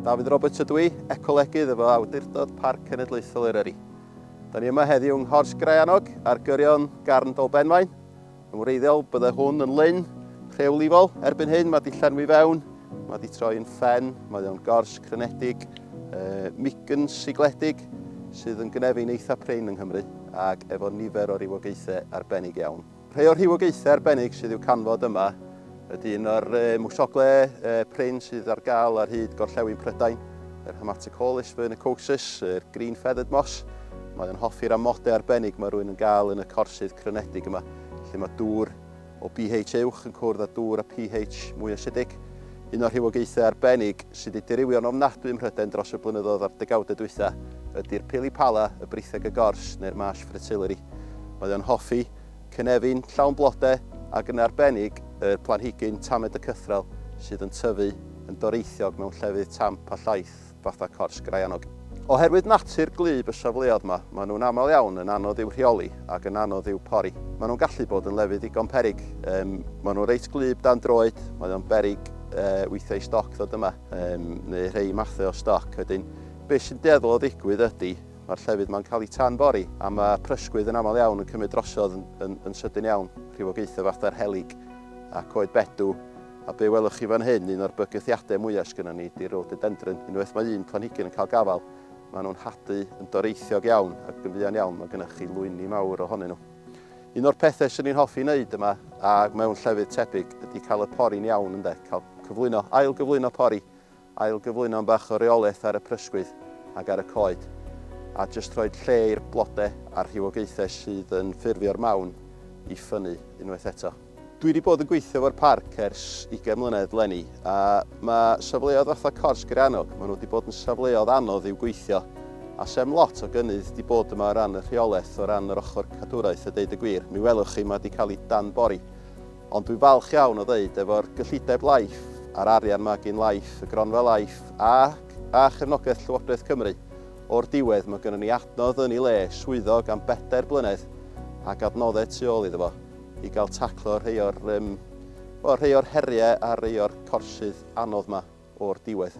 Dafydd Roberts ydw i, ecolegydd efo Awdurdod Parc Cenedlaethol Eryri. Da ni yma heddiw yng Nghors Graeanog ar gyrion Garn Dolbenfaen, Yn wreiddiol, byddai hwn yn lyn rhewlifol. Erbyn hyn, mae wedi llenwi fewn, mae wedi troi yn ffen, mae o'n gors crenedig, uh, migyn sigledig, sydd yn gnefu'n eitha prin yng Nghymru, ac efo nifer o rywogaethau arbennig iawn. Rhai o'r rhywogaethau arbennig sydd i'w canfod yma Ydy un o'r mwsogle prin sydd ar gael ar hyd gorllewin Prydain, yr Haematicollis vernicosus, yr green feathered moss. Mae o'n hoffi'r amodau arbennig mae rwy'n yn gael yn y corsydd crynedig yma, lle mae dŵr o pH uwch yn cwrdd â dŵr a pH mwy asidig. Un o'r rhywogaethau arbennig sydd wedi dirywio'n ofnadwy ym Mhrydain dros y blynyddoedd a'r degawdau dwytha ydy'r Pilipala, y Britheg y Gors, neu'r Marsh Fritillary. Mae o'n hoffi Cynefin llawn blode ac yn arbennig y planhigyn tamed y cythrel sydd yn tyfu yn doreithiog mewn llefydd tamp a llaith fatha cors graeanog. Oherwydd natur gwlyb y safleoedd yma, maen nhw'n aml iawn yn anodd i'w rheoli ac yn anodd i'w pori. Maen nhw'n gallu bod yn lefydd ddigon peryg. Um, maen nhw reit gwlyb dan droed, mae o'n beryg uh, weithiau i stoc ddod yma, um, neu rhai mathau o stoc. Wedyn, beth sy'n deddol o ddigwydd ydy, Mae'r llefydd yma'n cael eu tan-bori, a mae prysgwydd yn aml iawn yn cymryd drosodd yn, yn, yn sydyn iawn, rhywogaethau fatha'r helyg a coed bedw, a be welwch chi fan hyn, un o'r bygythiadau mwyaf sgynnon ni ydy rhododendron. Unwaith mae un planhigyn yn cael gafael, maen nhw'n hadu yn doreithiog iawn ac yn fuan iawn mae gennych chi lwyni mawr ohonyn nhw. Un o'r pethau sy'n ni'n hoffi wneud yma a mewn llefydd tebyg ydy cael y pori'n iawn ynde, cael cyflwyno, ail gyflwyno pori Ailgyflwyno am bach o reolaeth ar y prysgwydd ac ar y coed, a jyst rhoid lle i'r blode a'r rhywogaethau sydd yn ffurfio'r mawn i ffynnu unwaith eto. Dwi 'di bod yn gweithio efo'r parc ers ugain mlynedd 'leni, a ma' safleoedd fatha Cors Gerianog, ma' nhw 'di bod yn safleoedd anodd i'w gweithio, a sem lot o gynnydd 'di bod yma o ran y rheolaeth, o ran yr ochr cadwraeth a deud y gwir, mi welwch chi ma' 'di cael ei danbori. Ond dwi'n falch iawn o ddeud, efo'r gyllideb Life a'r arian 'ma gin Life, y gronfa Life a a chefnogaeth Llywodraeth Cymru, o'r diwedd mae gynnon ni adnodd yn ei le, swyddog am bedair blynedd ac adnoddau tu ôl iddo fo i gael taclo rhei o'r yym wel rhei o'r heriau a rhei o'r corsydd anodd 'ma o'r diwedd.